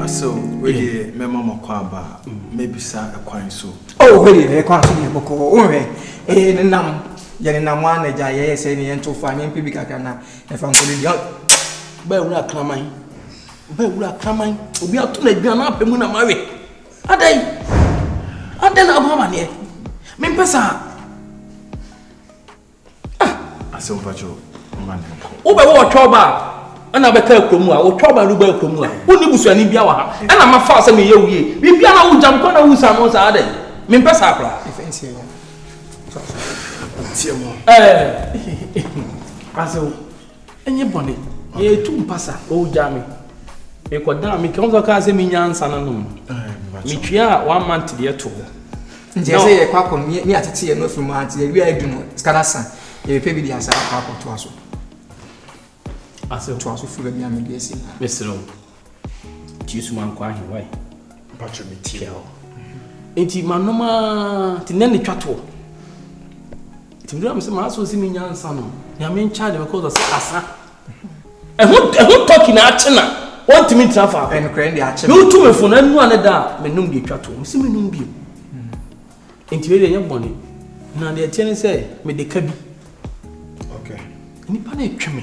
So wei deɛ mɛma mo kɔ aba mɛbisa ɛkwan so. Oh wei deɛ ɛkwan so deɛ bɔkɔ wohwɛ ɛyɛ ne nam yɛ ne nam a na gya yɛyɛ sɛ ne yɛn to fa ne mpɛ bi kakra na ɛfa nkɔ ne deɛ. Bɛɛ wura kraman. Ɔbɛn wura kraman, obi ato no aduan apɛ mu na mawe. Adɛn? Adɛn na abɔ amaneɛ? Mempɛ saa. Ah! Asɛ mpakyɛ ɔma ne nkɔ. Wobɛwɔ ɔtwa ɔba a, ɛna bɛka akuro mu a, ɔtwa ɔba no ba akuro mu a, wonni busuani bia wɔ ha. Ɛna mafa sɛ meyɛ wie. Bibia na wogya mekɔ na wosa no saa adɛn? Mempɛ saa koraa. Ɛɛ! Asɛ Ɛnyɛ bɔne. Yɛtu mpasa. Oh, gyaa me. Mekɔdaa me kɛntɛn. Wɔn kaa sɛ menya nsa no nom. Metua one month deɛ to hɔ. Nti ɛsɛ yɛ kɔ akɔ ne yɛ atete yɛ no afiri mu ante yɛ wia edu no sika na san yɛ pɛ bi de asa akɔ akɔ to aso. Ase to aso firi baabi a mede asi. Mesrɛ wo. Nti yesu mankɔ ahewa yi. Mpacho me tie hɔ. Nti manom aa ti nɛ ne twa toɔ. Nti mi dira mi sɛ maa so si mi nya nsa nom. Nea mi nkya de bɛ kɔ sɛ asa. Ɛho ɛho tɔki na akye na wɔn ti mi ntina fa. Ɛnukura ɛdi akye. N'o tu mi fo na enu ane da mi nom de twa toɔ. Mi si mi nom bi o. Nti mi de nye bɔnne. Na deɛ ɛteɛ ne sɛ mi de ka bi. Okay. Nipa na etwe mi.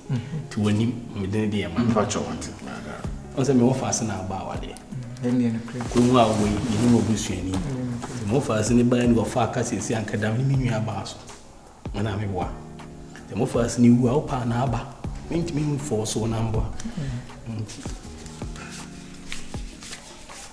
To w'anim mede ne deɛ ma mpakyɛ wate ɔn sɛ mewɔ faase na aba awadeɛ kurom a wɔ yi yɛne wɔ busuani nti mo faase ne baa ne wɔfa aka siesie ankadam ne me nua baa so mana meboa sɛ mo faase ne wu a wopaa na aba mentumi mfɔɔ so na mboa nti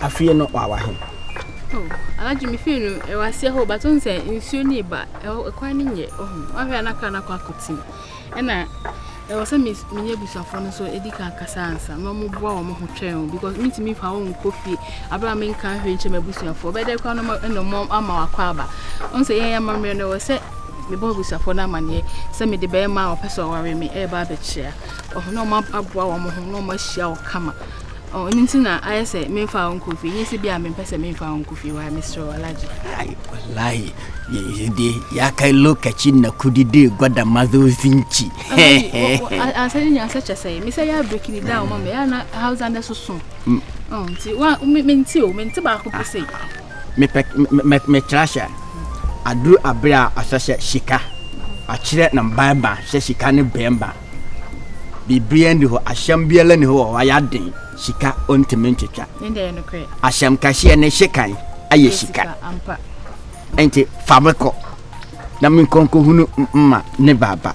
afie no wawa he anadwo me fie no ɛwɔ aseɛ hɔ bato n sɛ nsuo ne ba ɛkwan no nyɛ ɔho wahwɛ na kra no akɔ akɔtim ɛna ɛwɔ sɛ menyɛ abusuafoɔ no nso ɛdi ka kasa ansa ma moboa wɔ mo ho twɛn o because mentumi fa wo nkɔ fie aberɛ a menka hwɛ nkyɛ m abusuafoɔ bɛdɛ kora no ɛna mɔ ama wakɔ aba ɔn sɛ yɛn amammerɛ no ɛwɔ sɛ mebɔ abusuafoɔ no amanneɛ sɛ mede bɛrima a ɔpɛ sɛ ɔware me ɛreba abɛkyea wɔn a wɔaboa wɔn ho na wɔahyia wo kama ɛno nti na ayɛ sɛ memfa wo nkɔ fie nyɛ sɛ bi a mempɛ sɛ memfa wo nkɔ fie wae mesrɛ wo alagye wallahi yɛde yɛaka lokaci na kudi de gwada mazo zinci ansɛ ne nyansɛ kyɛ sɛ mesɛ yɛ abreki ne da wo ma me ɛna hausa nɛ so so nti mente o mente baako pɛ sɛ mepɛ me metra hyɛ aduru abere a asɛ sɛ sika akyerɛ na mbaɛba sɛ sika ne bɛɛba biribiara ni hɔ ahyɛm biara ni hɔ wɔ hɔ ayɛ aden sika ɔntumi ntwitwa ahyɛm kɛseɛ ne hyekan ayɛ sika nti fa me kɔ na menkɔnkɔhunu mma ne baaba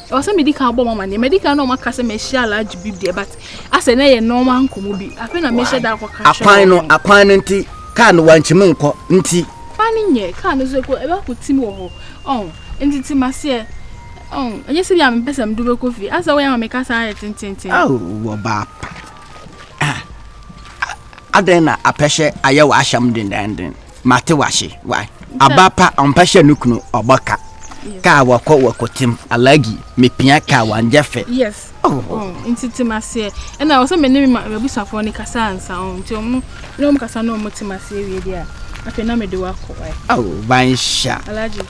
Ɛwɔ sɛ medi kan bɔ wɔn amanneɛ. Madi kan ne wɔn aka sɛ mahyia Alhaji Bib deɛ, but asɛ na ɛyɛ normal nkɔmmɔ bi. Afei na mehyɛ da akɔka kyerɛ Akwan no, wɔn. akwan no nti, kaa no wankyim nkɔ nti. Kwan no nyɛ, kaa no nso ɛkɔ, ɛbɛ akɔtim wɔ hɔ. Ɔho, nti te m'aseɛ. Ɔho, ɛnyɛ sɛ bia mempɛ sɛ medo bɛkɔ fie. Asɛ woyɛ ama me kasa ayɛ tententen. Ao, ɔbaa pa. Ah, ah, adɛn na apɛhyɛ ayɛ w'ahyɛm dendenden? Mate wase wai aba pa ɔmpɛ sɛ no kunu ɔbɔ ka kaa wɔkɔ wɔkɔtem alagi mepia kaa wangyɛ fɛ yes oh. oh. nti tem aseɛ ɛna wɔ sɛ mene me mabusafoɔ no kasa ansa ɔ nti ɔmo ne ɔmo kasa na ɔmo tem aseɛ wie deɛ a afei na mede wakɔ wai oh, banhyɛ alagi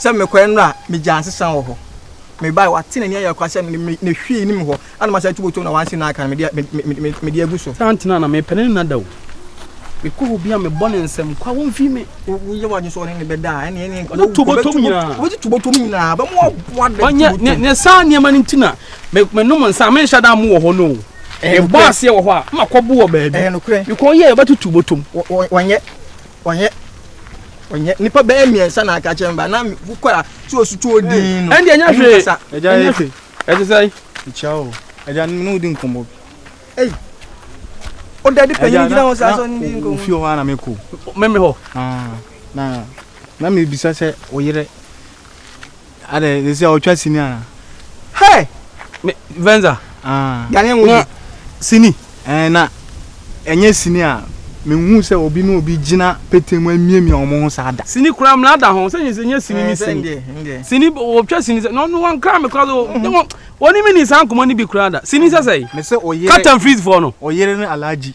sɛ mekɔɛ no a megyaa nsesa wɔ hɔ mebae wate n'ani ayɛ kwa sɛ ne hwee nim hɔ ana masa tu botom na wansi na aka no mede agu so saa ntena na mepɛ ne nna da o mekɔ hɔ bia mebɔ ne nsɛm kwa womfi me woyɛ wagye so ɔne ne bɛda a ɛne ɛne ɔne tu botom nyinaa wɔbɛtu tu botom nyinaa bɛmo aboa da tu botom ne saa nneɛma no nti na menom nsa menhyɛ da mo wɔ hɔ no o ɛbɔ aseɛ wɔ hɔ a makɔbo wɔ baabi mekɔ yɛ yɛbɛtutu botom wɔnyɛ ɔnyɛ ɔnyɛ nipa bɛyɛ mmiɛnsa na aka kyɛn ba na wokɔ a so osutu odin no ɛnde ɛnyɛ hwee ɛgya ɛnyɛ hwee ɛte sɛ ɛkyia o ɛgya ne wodi nkɔmmɔ bi ei o dade panyin gyina hɔ sɛ asɔ ne nkɔmmɔ ofi hɔ ana mekɔ meme hɔ na na mebisa sɛ oyerɛ Adɛ ne sɛ ɔtwa sini ana. Hey! Me Venza. Ah. Yanye wo. Na sini. Eh na ɛnyɛ sini a menhu sɛ obi ne obi gyina petee mu amiamia wɔn ho saa da. Sini kura mmla da ho sɛ nyɛ sini ne sini. Sini wɔtwa sini sɛ na ɔno wɔnkra me kora so. Wɔne me ni saa nkɔmmɔ no bi kura da. Sini sɛ sɛ. Me sɛ oyere. Cut and freeze foɔ no. Oyere ne Alhaji.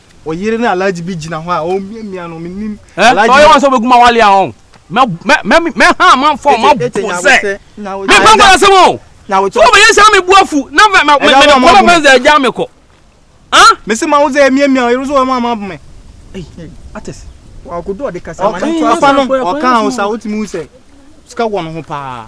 ɔyere ne alaji bi gyina hɔ a ɔmiamia no menim alaji ɔyɛ wɔn sɛ ɔbɛgu ma wale a ɔn mɛha amanfo ɔma bo sɛ mefa nkɔla sɛm o so ɔbɛyɛ sɛ mebu afu na mekɔlɔ fɛn sɛ agya mekɔ mese ma wo sɛ ɛmiamia ɔyere so ɔma ama me ates ɔka wo sa wotumi wu sɛ sika wɔ no ho paa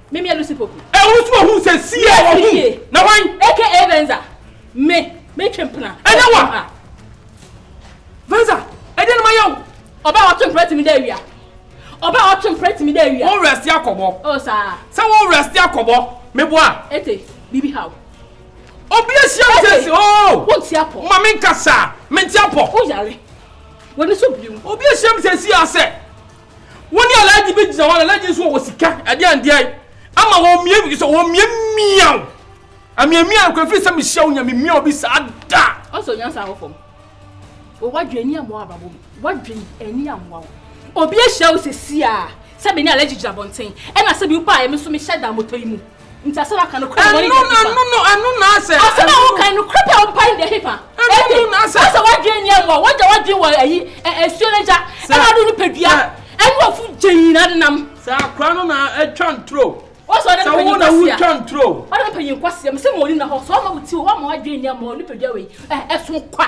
Me me Lucy Poku. E wo so hu se si e wo hu. Na wan? Eke e Venza. Me me twe mpena. E na wa. Venza, e de no ma yaw. Oba o twe mpena timi da awia. Oba o twe mpena timi da awia. Wo rest ya kobo. O sa. Sa wo rest ya kobo. Me bo a. Ete, bibi how. Obi e sia wo se si o. Wo nti apo. Ma me nka sa. Me nti apo. Wo yare. Wani so biu. Obi e sia me se si ase. Wo ne Alhaji bi gyina hɔ na Alhaji nso wɔ sika ɛde andeɛ ama wɔn mmea bi sɛ wɔn mmea mmiaw. Amia mia nkɔ efiri sɛ mehyia wo nyame mia obi saa da. Ɔsɔ nya saa hɔ fam. O wadwe ani amoa abrabɔ mu. Wadwe ani amoa wo. Obi ahyia wo sɛ si a sɛ me ne Alhaji gyina bɔnten ɛna sɛ bi pa a ɛme nso mehyɛ da moto yi mu. Nti asɛm a waka no korɛ pɛ wɔne deɛ hepa? Ɛno no ɛno na asɛ. Asɛm a woka no korɛ pɛ wopa ne deɛ hepa? Ɛno na asɛ. Asɛ wadwene nni ɛmɔ wagya wadwene wɔ ayi ɛsuo no gya ɛna ado no padua ɛne wafu gya nyina de nam. Sɛ akora no na atwa nturo. Wɔsɛ ɔde ne panyin kwasia. Sɛ wo na wotwa nturo. Ɔde ne panyin kwasia mesɛ ma ɔni na hɔ sɛ ɔma wo ti wɔ wama wadwene nni ɛmɔ nipadua wei ɛso kwa.